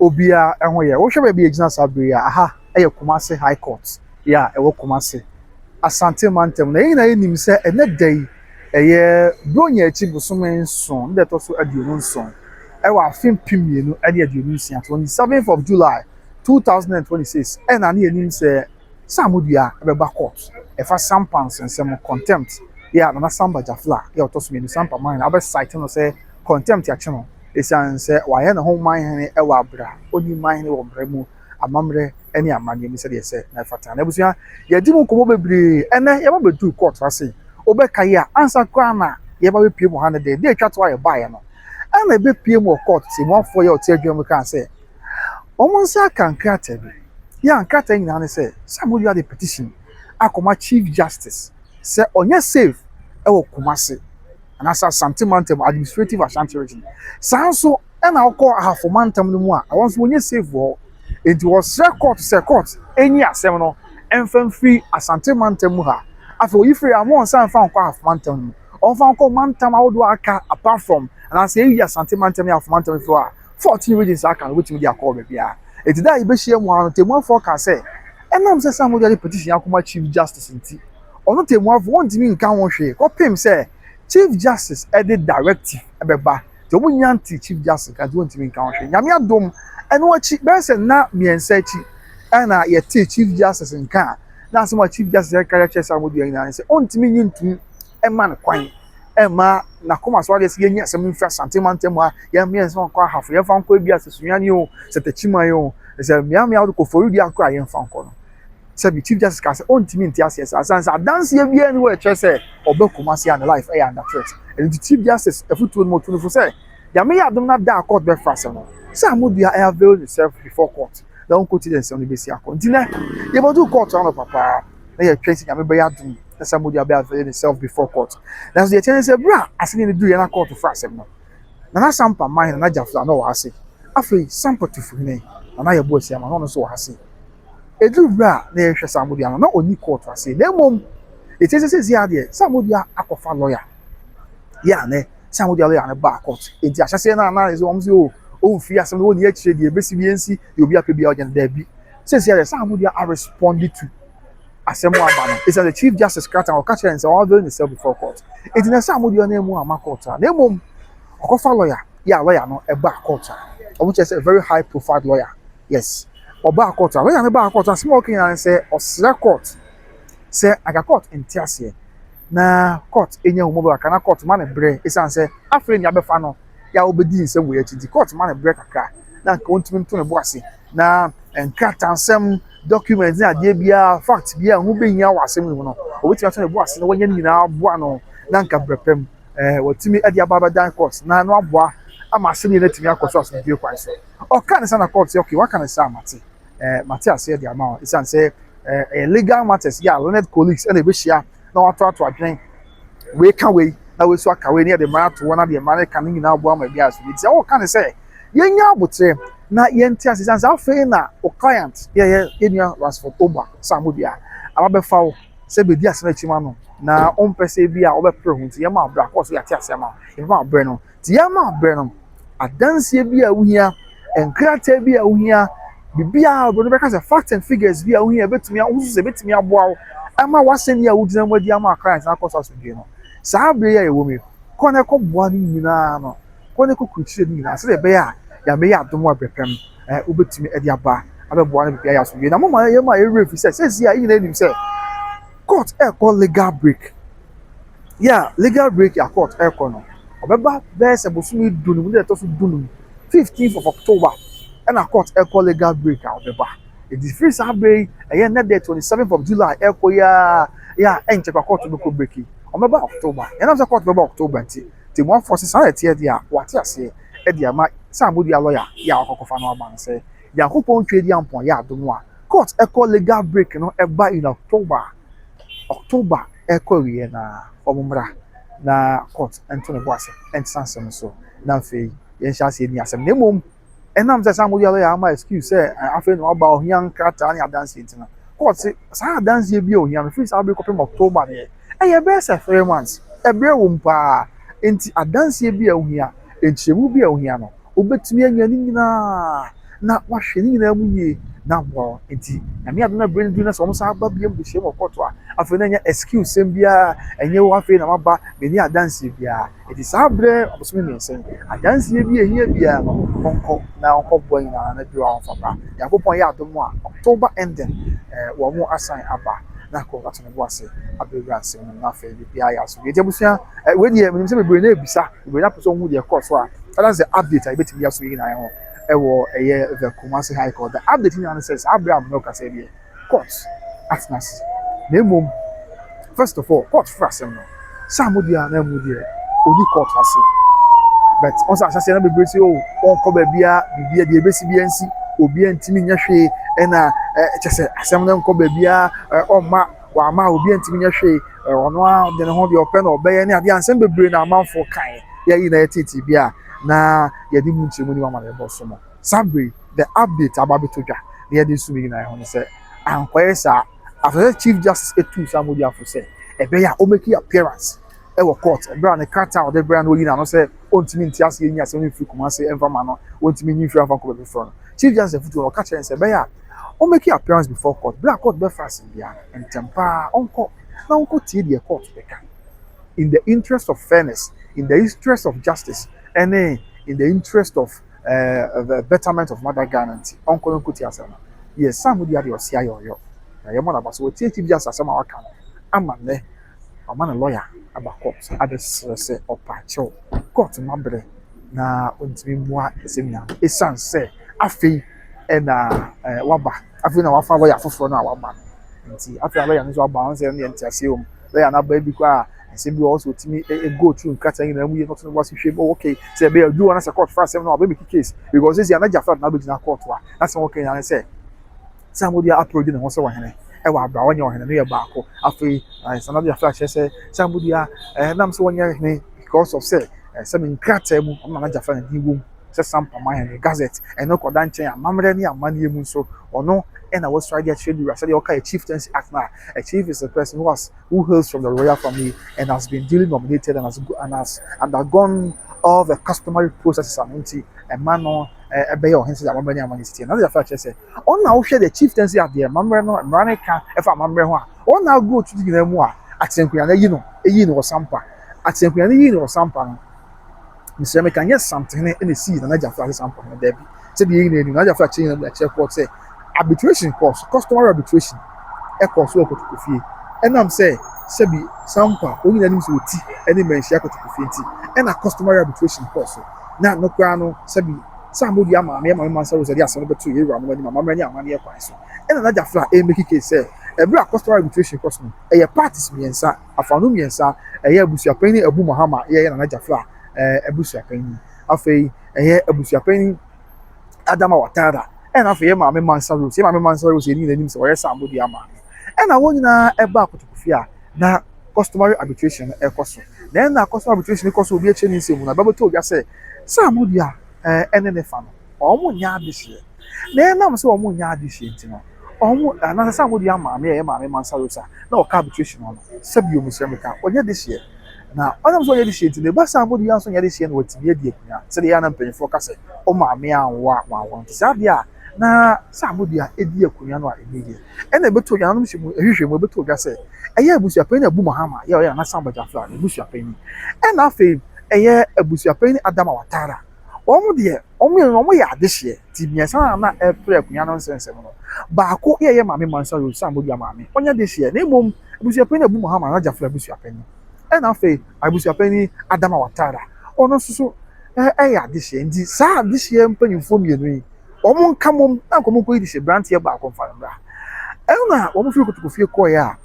obiara ho yɛ. Wohwɛ baabi a ɛgyina saa berɛ yi a, aha yɛ Kumasi High Court yi a ɛwɔ Kumasi, Asante Mantam. Na yɛn nyinaa yɛnim sɛ ɛnnɛ da yi ɛyɛ Buronya akyi bosome nson no da ɛtɔ so aduonu nson ɛwɔ afe mpem mmienu ne aduonu nsia, twenty seventh of July, two thousand and twenty six, ɛna na yɛnim sɛ Samu Dua bɛba court ɛfa Sampa nsɛnsɛm ho, contempt, yɛ a Nana Samba Jafla yɛ a ɔtɔ so mmienu, Sampa Mine, abɛ cite no sɛ contempt akye no. Esiane sɛ wayɛ ne ho man hene wɔ bere a onni man hene wɔ mmara mu, amammerɛ ne amanneɛ mu sɛnea ɛsɛ na ɛfata no. Abusua, yɛadi mu nkɔmmɔ bebree. Ɛnnɛ, yɛaba abeduu kɔɔto ase. Wobɛkae a, ansa koraa na yɛreba abepue mu ha no de, da a etwa to a yɛbaeɛ no, ɛnna yɛbepue mu wɔ kɔɔto timuafoɔ yi a ɔte adwuma mu kaa sɛ wɔn nsa aka nkrataa bi. Ya, nkrataa nyinaa ne sɛ, sɛ moyɔ ade petition akɔma Chief Justice sɛ ɔnyɛ safe wɔ Kumasi. anaasɛ Asante mantam, administrative Ashanti region. Saa nso ɛna ɔkɔ Ahafo mantam no mu a ɛwɔ nso wɔnyɛ safe wɔ hɔ. Enti wɔsrɛ court sɛ court enyi asɛm no ɛmfa mfiri Asante mantam mu ha. Afei oyi firi ha ma ɔnsan mfa nkɔ Ahafo mantam no mu. Ɔmfa nkɔ mantam ahodoɔ a aka apart from anaasɛ eyi Asante mantam ne Ahafo mantam nso a 14 regions aka no wobɛtumi de akɔ wɔ baabiara. Enti da a yɛbɛhyia mu ara no tɛmmuafoɔ kaa sɛ ɛnam sɛ Sam Mogya de petition akɔma Chief Justice nti, ɔno tɛmmuafo wɔntumi nka ho hwee kɔpem sɛ chief justice de directive bɛba nti wɔn nyinaa nte chief justice nka nti wɔntumi nka ho hwee nyame adom ɛno akyi bɛyɛ sɛ nna mmiɛnsa akyi ɛna yɛte chief justice nka a na asɛm a chief justice ɛka yɛ kyerɛ saa wɔn dua nyinaa sɛ ɔntumi nyi ntum ɛma no kwan ɛma n'akoma so adeɛ sɛ yɛnyi asɛm mfiri asante mantam a yɛn mmiɛnsa nkɔ ahafo yɛmfa nkɔ ebi asɛ sunyane o sɛ takyiman o sɛ mmeammea wode kɔ fɔredi akora yɛmfa nkɔ no sɛbi chief justice kaa sɛ ɔntumi nte aseɛ saa sane sɛ adanseɛ biara ni hɔ a ɛkyerɛ sɛ ɔba Kumasi a ne life ɛyɛ under threat ɛno nti chief justice afutuo no mu ɔtu no fo sɛ Nyame yɛ adom no ada a court bɛfra asɛm no sɛ Amodua ɛ avail ne self before court na ɔnkɔti dɛ nsɛm no bɛsi akɔ nti nɛ yɛbɛduu court anɔpa paa na yɛtwɛn sɛ Nyame bɛyɛ adom na sɛ Amodua bɛ avail ne self before court nanso deɛ ɛkyɛ ne sɛ berɛ a asɛnniɛ no duruiɛ na court fra asɛm no Nana Sampa mmaa he Nana Gyafla na ɔwɔ ha se afei Sampa Tufuhene Nana Yɛboasia ma na ɔno nso wɔ ha se Ɛduru berɛ a na yɛhwɛ Samudia no, na ɔnni kɔɔto ase. Na mmom, ɛtie sɛ seesei ara deɛ Samudia akɔfa lɔya. Yɛ a ne Samudia lɔya no baa kɔɔto. Enti ahyɛseɛ no a na ɛsɛ wɔn sɛ o, ɔmfiri asɛm no hɔ nni akyire deɛ ɛbɛsi bi ɛnsi, deɛ obi apɛ biara ɔnyɛ no, daabi. Seesei ara deɛ Samudia arespɔnde to asɛm a aba no, ɛsiane sɛ Chief Justice Krataa no ɔka kyerɛɛ no sɛ ɔnavail ne self before court. Enti na Samudia nan mu amma kɔɔto a, na mmom ɔkɔfa lɔya. Yɛ a lɔya no baa kɔɔto a, wɔkyerɛ sɛ very high profiled lɔya, yes. ɔbaa court a, wei na mebaa court asɛm a ɔka nyinaa ne sɛ ɔsrɛ court sɛ anka court nte aseɛ na court nya hu mɔbɔ kakra na court ma ne berɛ ɛsiane sɛ afei nea abɛfa no yɛ a wobɛdi nsɛm wei akyi nti court ma ne berɛ kakra na anka wɔntumi nto ne bo ase na nkratansɛm document ne adeɛ biara fact biara ho bɛhia wɔ asɛm no mu no wɔbɛtumi ato ne bo ase na wɔnyɛ no nyinaa aboa no na anka berɛ pɛm eh, wɔtumi de aba abɛdan court na no aboa ama asɛm yɛ no atumi akɔ so asomdwoe kwan so Ɔka ne saa na court sɛ okay waka ne saa a mate ɛɛ mate aseɛ de ama wo ɛsiane sɛ ɛɛ ɛyɛ legal matters yɛ a learned colleagues ɛna ɛbɛhyia na wɔato ato adwene wei ka wei na wei nso aka wei ne yɛde mmara ato hɔ na deɛ mmara no ka no nyinaa boa ma biara so nti ɔka ne sɛ yɛnya aboterɛ na yɛnte ase ɛsiane sɛ afei na o client yɛyɛ yɛnua Rasford Oba Samudi a abɛfa wo sɛ bɛdi asɛm akyima no na ɔmpɛ sɛ bi a wɔbɛpere ho nti yɛma abrɛ akɔɔ so yɛate ase ama wo yɛbɛma abrɛ no tia ma berɛ no, adanseɛ bi a wohia, nkrataa bi a wohia, biribiara obi bɛka sɛ facts and figures bi a wohia ɛbɛtumi a wosusu sɛ ɛbɛtumi aboa wo ama w'asɛnni a wogyina mu adi ama Christ na akɔ so asomdwoe no. Saa berɛ yi a yɛwɔ mu yi, kɔ na ɛkɔboa no nyinaa no, kɔ na ɛkɔkurukyire no nyinaa sɛdeɛ ɛbɛyɛ a Nyame yɛ adom a berɛ pɛm ɛɛ wobɛtumi de aba abɛboa no biribi ayɛ asomdwoe. Na moma yɛma yɛwerɛ mfi sɛ sɛsi a yɛn nyinaa nim sɛ court ɛrekɔ legal break. yɛ a legal break a court rekɔ no, ɔbɛba bɛyɛ sɛ bosome du no mu da a ɛtɔ so du no mu, fifteenth of October ɛna court rekɔ legal break a ɔbɛba. Enti firi saa berɛ yi ɛyɛ nnɛ dɛ twenty seventh of July rekɔ yi ara yɛ a ɛnkyɛ koraa court bɛkɔ break yi. Wɔbɛba October. Yɛnam sɛ court bɛba October nti, Temmuafoɔ se saa na ɛteɛ deɛ a, wɔate aseɛ de ama sɛ Amoduaa lɔya yɛ a wakɔkɔfa no aba no sɛ, Nyankopɔn Tweaduampɔn yɛ adom a, court kɔ legal break no ba in October. October rekɔ awieɛ no ara, wɔmmra na court nto ne bo ase ntena asɛm no so na afei yɛnhyɛ aseɛ nni asɛm no. Na mmom, ɛnam sɛ saa moyɛ lɔya ama excuse sɛ eh, afei na waba ohia nkrataa ne adanseɛ nti no, court se saa adanseɛ bi a ohia no firi saa bere kɔpem October deɛ, ɛyɛ bɛyɛ sɛ three months. Ɛbrɛ wom paa. Enti adanseɛ bi a ohia. Nkyerɛmu bi a ohia no, wobetumi anya ne nyinaa na wɔahwɛ ne nyinaa mu yie na aboa wɔn. Enti Nyame adom na bere no du na sɛ wɔsan aba bio de hyia mu wɔ kɔɔto a, afei na ɛnyɛ excuse sɛm biara, ɛnyɛ oo afei na maba, menni adanseɛ biara. Enti saa bere abosome mmiɛnsa yi, adanseɛ bi a ɛhia biara no, wɔnkɔ na wɔnkɔboa nyinaa na bio a wɔmfa mmra. Nyankopɔn ayɛ adom a, October ending, eh, wɔn asan aba na akɔ ato ne bo ase abɛwura nsɛm no mu na afei biribiara ayɛ asomdwoe. Enti abusua, eh, wei deɛ menim sɛ bebree na ɛrebisa. Obi na pɛ sɛ ɔhu deɛ ɛkɔɔ so a, ɛna sɛ update a yɛbɛtumi de aso yi nyinaa ho ɛwɔ ɛyɛ the Kumasi High Court. The update nyinaa ne sɛ saa berɛ a Munok asɛ deɛ court atena ase. Na mmom, first of all, court foro asɛm no. Saa mo deɛ a na mu deɛ ɔni court ase. But ɔn sɛ ahyɛseɛ na bebree sɛ o oh, ɔnkɔ baabia bibia deɛ ɛbɛsi bia nsi obiara ntumi nyɛ hwee ɛna kyɛ sɛ asɛm no nkɔ baabia ɔmma wama obi antumi nyɛ hwee ɔno ara de ne ho deɛ ɔpɛ na ɔbɛyɛ ne adeɛ ansɛm bebree na amanfoɔ kae yɛ yi na yɛ tete bi a na yɛde mu nkyerɛmu ne wama na yɛbɔ so no saa bere the update aba bɛtɔ dwa na yɛde nso nyinaa ɛho ne sɛ ankɔyɛ saa after sɛ chief justice etu saa mogya fo sɛ ɛbɛyɛ a ɔmɛki appearance wɔ court bere a ne krataa a ɔde brɛɛ no oyi n'ano sɛ ontumi nte aseɛ nyi asɛm no mfiri Kumasi mfa mma no, ontumi nyi mfiri amfa nkɔ baabi foforɔ no. Chief Justice afotuo no, ɔka kyerɛɛ no sɛ ɛbɛyɛ a ɔmmɛki appearance before court bere a court bɛfa asɛm biara no, ntɛm pa ara ɔnkɔ na ɔnkɔtie deɛ court bɛka in the interest of fairness, in the interest of justice ɛne in the interest of uh, betterment of mother Ghana nti ɔnkɔ na ɔnkɔtie asɛm no. Yes, saa mudi adeɛ ɔse ayɛ ɔyɔ na yɛmmɔ no aba sɛ wɔtie Chief Justice asɛm a waka no ama nnɛ. Ɔama ne lɔya aba kɔɔt abɛsrɛ sɛ ɔpɛ akyɛw. Kɔɔt no abrɛ na ontumi mmua asɛm nyinaa no esiane sɛ afei na waba, afei na wafa lɔya foforɔ no a waba no nti. Afei a lɔya no nso aba a, ɔno sɛ ɛno deɛ nteaseɛ wɔ mu. Lɔya no aba bi koraa a, nsɛm bi wɔ hɔ sɛ ɔtumi go through nkrataa nyinaa mu yie na ɔto ne bo ase hwɛ mu, oh okay, sɛ ɛbɛyɛ a ɛduru hɔ no sɛ kɔɔt fa asɛm no a ɔbɛmeki case because seesei na Gyafrad na abɛgyina kɔɔt hɔ a, n'asɛm a ɔka nyinaa ne sɛ, sɛ Amodeɛ Apro di ne ho sɛ ɔhene wɔ abere a ɔnyɛ ɔhene no yɛ baako. Afei Sanadu Afra akyerɛ sɛ sɛ Amodeɛ eh, nam sɛ ɔnyɛ hene because of sɛ eh, sɛ me nkrataa mu ɔno na n'agya fa ne wom sɛ sampa ma hene gazette ɛno kɔda nkyɛn amammerɛ ne amanneɛ mu nso ɔno ɛna wɔsɔre de akyerɛ ne wura sɛdeɛ wɔka yɛ chieftaincy act no a a chief is a person who has who hails from the royal family and has been duly nominated and has, and has undergone all the customary processes ano nti ɛma no ɛbɛyɛ ɔhene sɛdeɛ amammerɛ ne amanneɛ siteɛ na sɛ yɛfa kyerɛ sɛ Wɔn na wohwɛ the chieftaincy at the amammerɛ no mmara no ka fa amammerɛ ho a, wɔn na agu otu no nyinaa mu a Atenankua no ayi no, yii no wɔ Sampa. Atenankua no yii no wɔ Sampa no, mesrɛ meka nyɛ Samtehene na esii Nana Gyafra ase Sampa hene, dabi. Sɛdeɛ yɛn nyinaa nim no, Nana Gyafra kyerɛ nyinaa akyerɛ court sɛ arbitration kɔɔ so, customary arbitration kɔɔ so wɔ Kotokofie, ɛnam sɛ sɛbi Sampa wɔn nyinaa nim sɛ wɔti ne mmanhyia Kotokofie nti na customary arbitration kɔɔ so, na ɛno koraa no sɛbi Sɛ ammɔ dua maa me ɛma me ma Nsa Rosa de asɛm no bɛtoo yɛn wuranom anim amammerɛ ne amanneɛ kwan so. Ɛna na Jafla ɛremeki case sɛ ɛberɛ a Coastal Arbitration kɔ so no ɛyɛ parties mmiɛnsa, afaanu mmiɛnsa, ɛyɛ abusuapanyin ne Abu Mahama yɛ Nana Jafla abusuapanyin, afei ɛyɛ abusuapanyin Adama Watara ɛna afei yɛn maame Mansa Rose. Yɛn maame Mansa Rose yɛ ne nyinaa nim sɛ ɔyɛ sɛ ammɔ dua maa me. Nna hɔn nyina ba akotoku fie a na customary arbitration no rekɔ so. Na nna customary arbitration no kɔ so, obi rekyerɛ ne nsɛm mu, na bɛbɔtoo gua sɛ, sɛ amodua a nne ne fa no, wɔnnyɛ adehyeɛ. Na enam sɛ wɔnnyɛ adehyeɛ nti no, wɔn, anaasɛ sɛ amodua maame a ɛyɛ Maame Mansa Rosa na ɔka arbitration hɔ no, sɛ bio mesrɛ me ka, ɔnyɛ dehyeɛ. Na enam sɛ ɔnyɛ dehyeɛ nti no, ɛba sɛ amodua nso nyɛ dehyeɛ na watumi adi akua, sɛdeɛ ɛyɛ a na mpanyinfoɔ ka sɛ, wo maame anwo a, wanwo. Nti saa adeɛ a. na sɛ ano deɛ a, ɛdi akonnwa no a ɛmu yɛ. Ɛna ɛbɛto dwa, nanom hyɛ mu nhwehwɛmu ɛbɛto dwa sɛ, ɛyɛ abusuapanin Abu Mahama yɛ ɔyɛ Nana Samba Gyamfra no abusuapanin. Ɛna afei ɛyɛ abusuapanin Adama Watara. Wɔn deɛ, wɔn mmienu no wɔyɛ adehyeɛ, nti mmiɛnsa no a na ɛrepere akonnwa no nsɛnsɛm no, baako yɛ ɛyɛ Maame Mansa Rose Sambo Dua maame, ɔnyɛ dehyeɛ, na mmom abusuapanin Abu Mahama, Nana Gyamfra abusuapanin. Ɛna afei. abusuapanyin Adama Watara, ɔno nso so ɛyɛ adehyeɛ nti saa adehyeɛ mpanyinfoɔ mmienu yi wɔn nka mom na nka wɔn nkɔyi de hyɛ branteɛ baako nfa no mmra ɛna wɔn firi kotoko fie kɔɔɛ a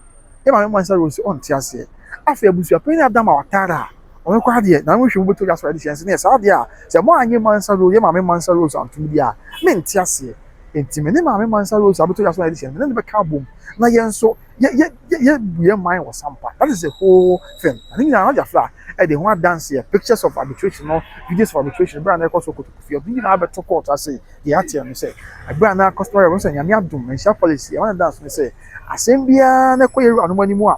yɛ maame mmansa rose ɔnte aseɛ afei abusuapanyin Adama Watara a wɔn kɔ adeɛ na wɔn hwɛ mu bɛtɔ dwa so adehyeɛ nso ne yɛ saa adeɛ a sɛ mo anyi mmansa rose yɛ maame mmansa rose antom di a mente aseɛ nti me ne maame mmansa rose abɛtɔ dwa so adehyeɛ no me ne no bɛka abom na yɛn nso yɛ yɛ yɛ yɛ bu yɛn man wɔ sampa that is the whole thing ɛno nyinaa no gyafra ɛde ho adanseɛ pictures of arbitration no videos of arbitration berɛ a na ɛkɔ so kotokufie ɛno nyinaa bɛto court ase deɛ ateɛ no sɛ ɛberɛ a na customary wɔn sɛ nyame adom nhyia policy ɛma ne danse no sɛ asɛm biara na ɛkɔ yɛ wura anom anim a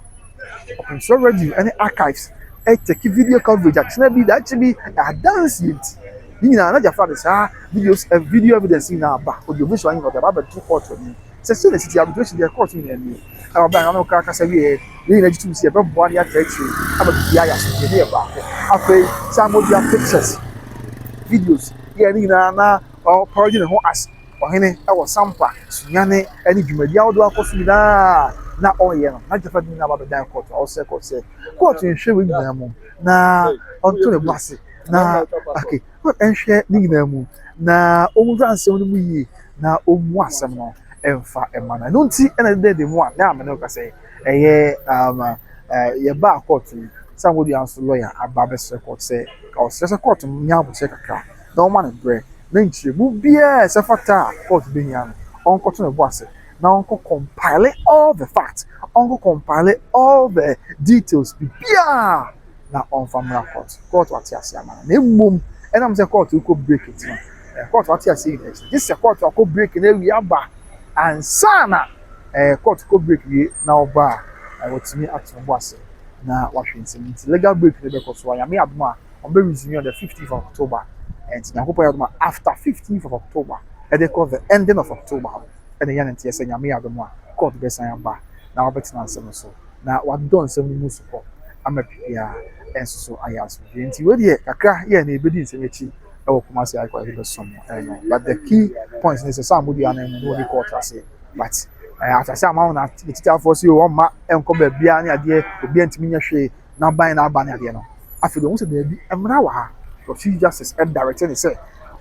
ɔpɛnsɛ radio ɛne archives ɛtɛki video coverage akyena bi daakye bi adanse yɛ nti ne nyinaa na gyafra de saa videos video evidence nyinaa ba audio visual nyinaa ɔde aba abɛto court anim Sɛ sei na ɛsiti a, migye di sɛ deɛ ɛkɔɔ so nyinaa nie. Na wɔbɛn ano no kra kasa wieeɛ. Yɛn nyinaa gye tom sɛ yɛbɛboa na yɛatra akyire ama biribiara ayɛ asomdwoeɛ na yɛyɛ baako. Afei Sam Modua pictures, videos, yɛɛ ne nyinaa na ɔreparody ne ho as ɔhene wɔ Sampa, Sunyani ne dwumadi ahodoɔ a akɔ so nyinaa a na ɔreyɛ no. Na Gyata de ne nyinaa ba bɛdan kɔɔto a ɔsrɛ kɔɔto sɛ kɔɔto nhwɛ wei nyinaa mu na ɔnto ne bo ase na okay. Wɔnhwɛ ne nyinaa mu, na wɔnhwɛ asɛm no mu yie, na wɔmmu asɛm no mfa mma no. Ɛno nti na ɛda adi mu a, na me ne wo ka sɛ, ɛyɛ um, uh, yɛbaa kɔɔto yi, sɛ ankodua nso lɔya aba abɛsrɛ kɔɔto sɛ, ɔsrɛ sɛ kɔɔto no nyɛ abokyerɛ kakra, na wɔma no berɛ, na nkyerɛmu biara ɛsɛ fata a kɔɔto bɛhia no, ɔnkɔto ne bo ase, na ɔnkɔ compile all the facts, ɔnkɔ compile all the details, biribiara. na ɔmfa mmra court. Court ate aseɛ ama no. Na mmom ɛnam sɛ court rekɔ break nti no, eh, court ate aseɛ nyinaa akyi. Gye sɛ court akɔ break na awie aba ansa na eh, court kɔ break wie na ɔba a, eh, watumi ato ne bo ase na wahwɛ nsɛm nti legal break no bɛkɔ so a nyame adom a ɔmbɛ resume on the 15th of October. Eh, nti nyankopɔn yɛ adom a after 15th of October ɛde kɔ the ending of October no ɛna ɛyɛ ne nteɛ sɛ nyame adom a court bɛsan aba na wabɛtena nsɛm no so. na wadodɔ nsɛm no mu so kɔ ama biribiara nso so ayɛ asomdwoe. Nti wei deɛ kakra yɛ na yɛbɛdi nsɛm akyi wɔ Kumasi High Court yɛbɛsom no but the key point ne sɛ sɛ ammɔdua no mu na wɔde kɔ ɔtrase but eh, atrase ama wɔn atitiafoɔ so wɔn mma nkɔ baabiara ne adeɛ obiara ntumi nyɛ hwee n'aban n'aba ne adeɛ no afei deɛ wɔn sɛ daabi mmara wɔ ha Chief Justice ɛdarete ne sɛ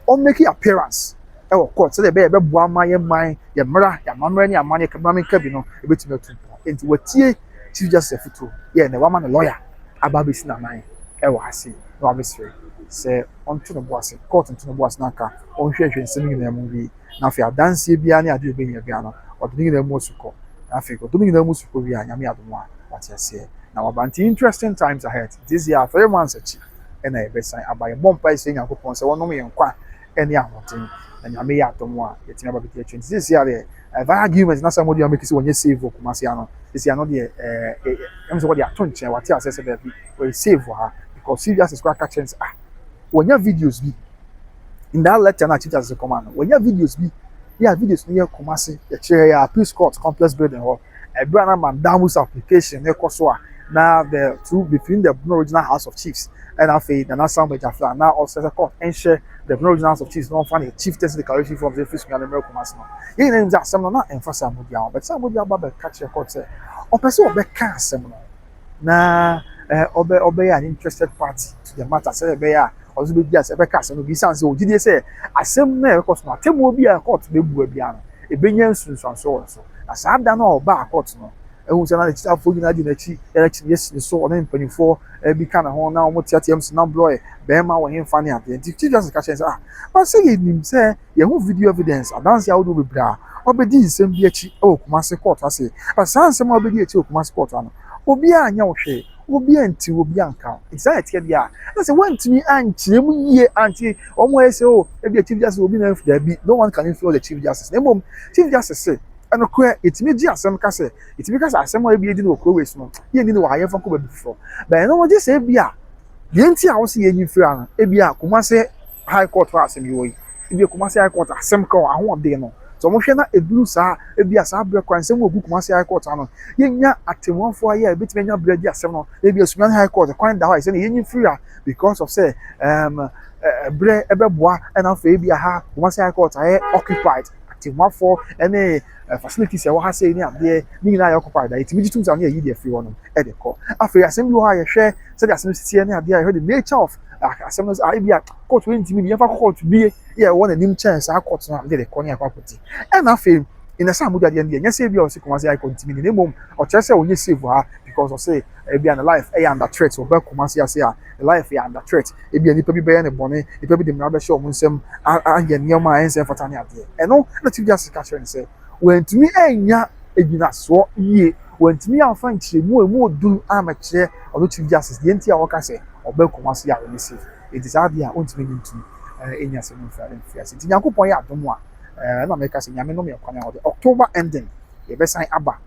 ɔmmɛki appearance wɔ court sɛdeɛ ɛbɛyɛ ɛbɛboa ma yɛn man, yɛn mmara, yɛn amammerɛ ne amanneɛ kraman nkabi no ɛbɛtumi atu mpɔn. Enti watie Chief Justice afotuo yɛ na wama no lawyer aba abɛsi n'anan wɔ ha sei na wabɛsrɛ sɛ ɔnto ne bo ase, court nto ne bo ase na anka ɔnhwɛhwɛ nsɛm nyinaa mu wie na afei adanseɛ biara ne adeɛ a ɔbɛnya biara no ɔde ne nyinaa mu asu kɔ na afei ɔde ne nyinaa mu su kɔ wie a Nyame adom a wate aseɛ na waba nti interesting times ahead nti sisi a three months akyi ɛna yɛbɛsan aba yɛbɔ mpae sɛ Nyankopɔn sɛ ɔnom yɛn nkwa ne ahoɔdzen, na Nyame yɛ adom a yɛtumi aba bɛdi akyire. Nti seesei ara deɛ, ɛɛ Via Argument no asɛm a wɔde amake sɛ wɔnyɛ save wɔ Kumasi ha no, seesei ano deɛ, ɛɛ, ɛɛ, ɛm sɛ wɔde ato nkyɛn, wɔate aseɛ sɛ daabi, wɔyɛ save wɔ ha, because Chief Justice koraa ka kyerɛ no sɛ, ah, wɔnya videos bi, in that lecture no a Chief Justice kɔma no, wɔnya videos bi, yɛ a videos no yɛ Kumasi, yɛkyerɛɛ yɛ Appeals Court Complex Building hɔ. ɛberɛ a na Mandan Musa occupation no rekɔ so a na the two between the Bono Regional House of Chiefs ɛna afei Nana Sam Bajafia na ɔsɛ sɛ court nhyɛ the Bono Regional House of Chiefs na ɔmfa ne chieftaincy declaration form sɛ ɛfiri Sunyani mmerɛ Kumasi no yɛn nyinaa nim sɛ asɛm no na ɛmfa Sam Mudia ho but Sam Mudia ba bɛka kyerɛ court sɛ ɔpɛ sɛ ɔbɛka asɛm no na ɔbɛyɛ an interested party to the matter sɛdeɛ ɛbɛyɛ a ɔno nso bɛdi asɛm bɛka asɛm no bi ɛsiane sɛ ɔgye die sɛ asɛm no a ɛrekɔ so no atemmuo bi a court bɛbua biara no ɛbɛnya nsunsuansoɔ wɔ ne so na saa da no a ɔbaa court no ɛhu sɛ na n'akyitafoɔ nyinaa di n'akyi yɛ n'akyi ne yɛsi ne so ɔne mpanimfoɔ bi ka ne ho na wɔn teateam sɛ na blɔɛ bɛrima wɔ hemfa ne adeɛ nti chief justice ka kyerɛ sɛ ah ɔsɛ yɛnim sɛ Yɛahu video evidence adanse ahodoɔ bebree a wɔabɛdi nsɛm bi akyi wɔ Kumasi kɔɔto ase. But saa nsɛm a wɔabɛdi akyi wɔ Kumasi kɔɔto ano, obiara anyɛ wo hwee, obiara antiw, obiara anka wo. Enti saa na ɛteɛ biara. Na sɛ woantumi ankyerɛ mu yie ante wɔn a wɔyɛ sɛ oh ebia Chief Justice wɔ bi na anf daabi, no one can influence the Chief Justice. Na mmom Chief Justice se, ɛnokorɛ yɛtumi gye asɛm ka sɛ, yɛtumi ka sɛ asɛm a ebia yɛdi no wɔ kuro wei so no, yɛnni no wɔ ha, yɛmfa nkɔ baabi foforɔ. But ɛno no gye sɛ ebia Deɛ nti a wɔsi yɛnyi firi ha no ebi a Kumasi high court hɔ asɛm yɛ wɔ yi ebi a Kumasi high court asɛm kɔ ahoɔden no sɛ wɔn hwɛ na ɛduru saa ebi a saa brɛ kɔ a nsɛm wɔ gu Kumasi high court ano yɛnya atemuafoɔ ayɛ a ebetumi anya brɛ di asɛm no ebi a Sunyani high court kwan da hɔ a ɛsɛ na yɛnyi firi ha because of sɛ ɛɛm ɛbrɛ ɛbɛboa ɛna afei ebi a ha Kumasi high court ayɛ occupied atemuafoɔ ɛne. eh, facilities a ɛwɔ ha sei ne adeɛ ne nyinaa yɛ occupied a yɛtumi gye tom sɛ ɔne yɛyi deɛ firi hɔ nom de kɔ afei asɛm bi wɔ hɔ a yɛhwɛ sɛdeɛ asɛm no siteɛ ne adeɛ a yɛhwɛ the nature of ah, asɛm no ah, ebi a court wei ntumi bi yɛmfa kɔ court bie yɛ ɛwɔ n'anim kyɛn saa court no a yɛde kɔ ne yɛkɔ akɔti ɛna afei ɛnɛ sɛ amogya deɛ no deɛ nyɛ sɛ ebi a ɔse kɔma sɛ ayɛkɔ ntumi ne na mmom ɔkyerɛ sɛ ɔnyɛ safe ha because ɔse ebi a na life ɛyɛ under threat ɔbɛ kɔma se ase a Life yɛ under threat. Ebia nipa bi bɛyɛ no bɔne, nipa bi de mmara bɛhyɛ wɔn nsam, ayɛ nneɛma a ɛnsɛ mfata ne adeɛ. Ɛno na Chief Justice ka kyerɛ no sɛ wantumi annya agyinasoɔ yie, wantumi amfa nkyerɛmu a ɛmu ɔduru ammɛkyerɛ ɔno Chief Justice deɛ nti a ɔka sɛ ɔbɛn Kumasi a ɔnyɛ safe. Enti saa adeɛ a ɔntumi ne ntu ɛnni asɛm mfiri mfiase. Nti Nyankopɔn yɛ adom a ɛna meka sɛ Nyame no me ɛkwan a ɔde October ending yɛbɛsan aba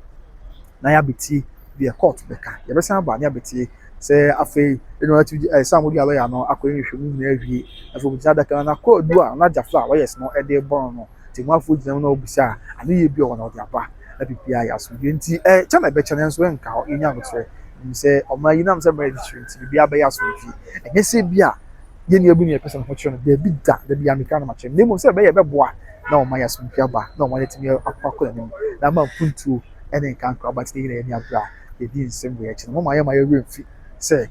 na yɛabetie deɛ kɔɔto bɛka. Yɛbɛsan aba na yɛabetie sɛ afei ɛna atu ɛɛ sɛ wɔde alɔya no akɔyɛ nhwehwɛmu nyinaa awie. Afei wɔbɛgyina adaka no na kɔɔdu a na gyafo a wɔyɛ no de rebɔ no no, temafoɔ gyina mu na wɔbisa a, anoyie bi a ɔwɔ no ɔde aba. Na biribiara yɛ asomdwoeɛ. Nti ɛkyɛ na ɛbɛkyɛ nanso ɛnka hɔ. Yɛnya aboterɛ. Menim sɛ ɔman yi, ɛnam sɛ mmerɛ yɛ titire nti, biribiara bɛyɛ asomdwoeɛ. Ɛnyɛ sɛ ebia yɛn nua bi na yɛpɛ sɛ ne ho kyerɛ no, daabi da, da biara meka no makyerɛ no, na mmom sɛ ɛbɛyɛ a ɛbɛboa na ɔman yi asomdwoeɛ aba na ɔman yi atumi akɔ akɔ anim na ama mpuntuo ne nkankra ba tete Yeremia bere a yedii nsɛm wei akyi no, momma yɛmma yɛn werɛ mfi sɛ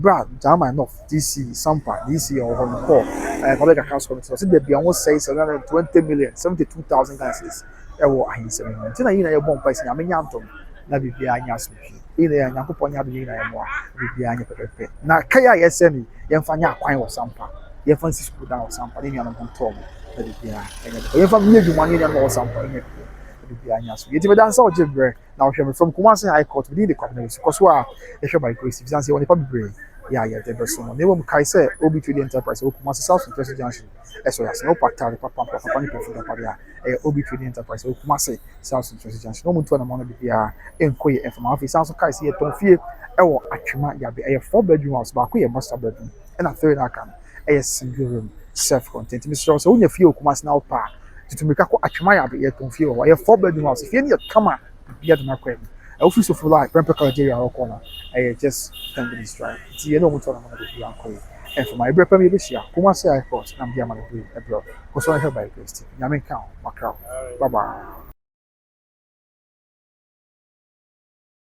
bere a German North DC Sampa DC a ɔwɔ hɔ no kɔɔ Public Accounts Committee no, ɔsɛ baabi a wɔsɛe 720 million, 72,000 Ghana cedis wɔ ahensɛm no mu. Nti na yɛn nyinaa yɛbɔ mpae sɛ Nyame nyɛ adom na biribiara nyɛ asomdwie. Yɛn nyinaa yɛ Nyankopɔn nyɛ adom yɛn nyinaa yɛmmoa na biribiara nyɛ pɛpɛpɛ. Na kae a yɛsɛ no yi, yɛmfa nyɛ akwan wɔ Sampa. Yɛmfa nsi sukuu dan wɔ Sampa ne nuanom ho ntɔɔ mu na biribiara nyɛ pɛpɛ. Yɛmfa nyɛ adwuma ne yɛn nuanom a wɔwɔ Sampa no nyɛ pɛpɛpɛ. biribiara anya so. Enti meda no sɛ ɔgye berɛ na ɔhwɛ me fam. Kumasi High Court, me din de Kwabena Wusu. Kɔ so ara hwɛ by Grace efisɛ yɛwɔ nnipa bebree yɛ a yɛde bɛsom no. Na mmom kae sɛ Obi Trading Enterprise ɛwɔ Kumasi South Centresi Junction ɛsɔ yɛ ase. Na wopɛ ataade papa, mpra papa ne pɛfo dapadeɛ a, ɛyɛ Obi Trading Enterprise ɛwɔ Kumasi South Centresi Junction. Na wɔntu anamɔn no de biara nkɔ yɛ mfa ma. Afei san nso kae sɛ yɛtɔn fie ɛwɔ Atwema Yabe. Ɛyɛ four bedroom house, baako yɛ master bedroom. ɛna afei na aka no yɛ single room self contained nti mesrɛ wo sɛ wonya fie wɔ kumase na wopɛ a tutu mirika kɔ atwema yɛ abɛyɛ tɔn fie wɔ hɔ ɛyɛ four bedroom house fie no yɛ kama bia de nakɔ anim ɛwofiri so fo like pɛmpɛ college area wɔkɔ no ɛyɛ just ten minutes drive nti yɛne ɔmo tɔ no mo na bɛbi akɔ yɛ ɛmfa ma ɛberɛ pɛm yɛbɛhyia kumase airport na mede ama no bere ɛberɛ kɔ so ahwɛ by grace tv nyame nka wo makra wo bye bye